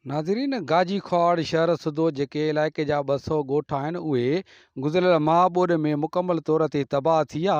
ناظرين گاجي خواڙ شهر سوڌو جيڪي علائقي جا 200 ڳوٺ آهن اهي گذريل مها ٻوڏ ۾ مڪمل طور تي تباهه ٿيا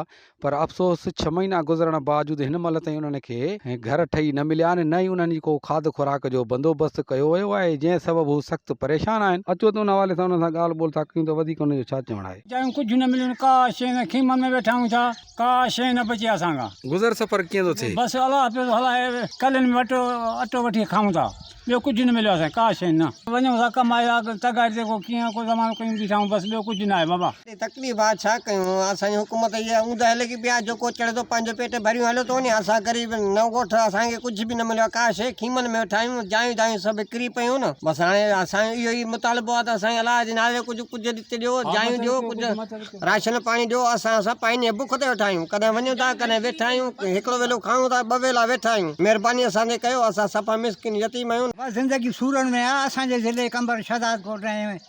پر افسوس ڇهه مهينا گذرڻ باوجود هن مهل تائين انهن کي گهر ٺهي نه مليا آهن نه ئي انهن جي ڪو کاڌ خوراڪ جو بندوبست ڪيو ويو آهي جنهن سبب هو سخت پريشان آهن اچو ته ان حوالي سان انهن سان ڳالهه ٻولهه ٿا ڪيون ته وڌيڪ انهن جو ڇا چوڻ آهي. جايون ڪجهه نه مليون ڪا شيء نه خيمن ۾ ويٺا آهيون ٿا. ڪا شيء نه بچي اسان کان. گذر سفر ڪيئن ٿو ٿئي؟ بس الله پيو ٿو هلائي. ڪلين ۾ اٽو اٽو وٺي کائون ٿا. ٻيو ڪجهه نه مليو اسان کي ڪا شيء نه. وڃون ٿا ڪم آهي آ تغاري تي ڪو ڪيئن ڪو زمانو ڪيون بيٺا آهيون بس ٻيو ڪجهه نه آهي بابا. ايڏي تڪليف آ ڇا ڪيون. اسان جي حڪومت اهي اوندهه لڳي پئي آ جيڪو چڙهي ٿو پنهنجو پيٽ ڀريون هليو ٿو وڃي اسان غريب نو ڳوٺ اسان کي ڪجهه به نه مليو آ ڪا شيء خيمن ۾ ويٺا آهيون جايون دايون سڀ وڪري پيون نه بس هاڻي اسان جو اهو ئي مطالبو آ ته سائين الله جي نالي ڪجهه ڪجهه ڏتي ڏيو جايون ڏيو ڪجهه. راشن پاڻي ڏيو اسان سڀ پائنيء بک تي ويٺا آهيون ڪڏهن وڃون ٿا ڪڏهن ويٺا آهيون هڪڙو ويلو کائون ٿا ٻه ويلا ويٺا آهيون مهرباني اسان تي ڪيو اسان صفا مسڪين يتيم آهيون. بس زندگي سورن ۾ آ اسان جي ضلعي قمبر شهداد ڪوٽ ۽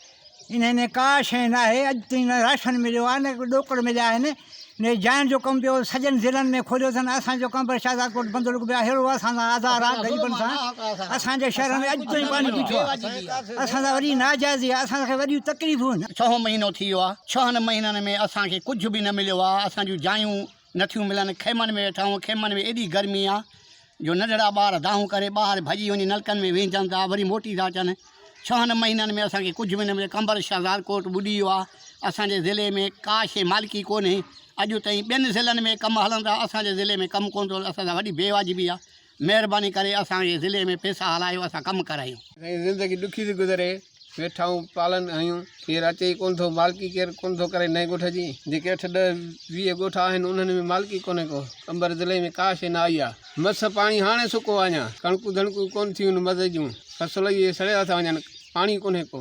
انهي ۾ ڪا شيء ناهي اڄ تائين نه راشن مليو آ نه ڏوڪڙ مليا آهن ني جاين جو ڪم ٻيو سڄن ضلعن ۾ کوليو اٿن اسان جو قمبر شهداد ڪوٽ بندلڪ به اهڙو اسان سان آزار آ غريبن سان اسان جي شهر ۾ اڄ تائين پاڻي بيٺو آ. اسان سان وڏي ناجائزي آهي، اسان کي وڏيون تڪليفون هن. ڇهون مهينو ٿي ويو آهي، ڇهن مهينن ۾ اسان کي ڪجهه به نه مليو آهي، اسان جون جايون نه ٿيون ملن، خيمن ۾ ويٺا آهيون، خيمن ۾ ايڏي گرمي آهي جو ننڍڙا ٻار دانهون ڪري ٻاهر ڀڄي وڃي نلڪن ۾ ويهجن ٿا وري موٽي ٿا اچن، ڇهن مهينن ۾ اسان کي ڪجهه به نه مليو، قمبر شهدادڪوٽ ٻڏي ويو آهي، اسان جي ضلعي ۾ ڪا شيء مالڪي ڪونهي، اڄ تائين ٻين ضلعن ۾ ڪم هلن ٿا، اسان جي ضلعي ۾ ڪم ڪونه ٿو هلي، اسان سان وڏي بي واجبي آهي، مهرباني ڪري اسان جي ضلعي ۾ پيسا هلايو اسان ڪم ڪرايون. سائين زندگي ڏکي ٿي گذري ويٺائون پالن آهيون ڪير اچي ئي ڪونه ٿو مالڪي ڪير ڪونه ٿو ڪري نئين ڳوٺ جي جيڪي اٺ ڏهه ويهه ڳوٺ آهن انهن ۾ مالڪي ڪونه ڪو قمبر ضلعي ۾ ڪا شي نه آئي آ مس پاڻي هاڻي سڪو آ اڃا ڪڻڪون ڌڻڪون ڪونه ٿيون مزي جون فصل اهي سڙيا ٿا وڃن پاڻي ڪونه ڪو.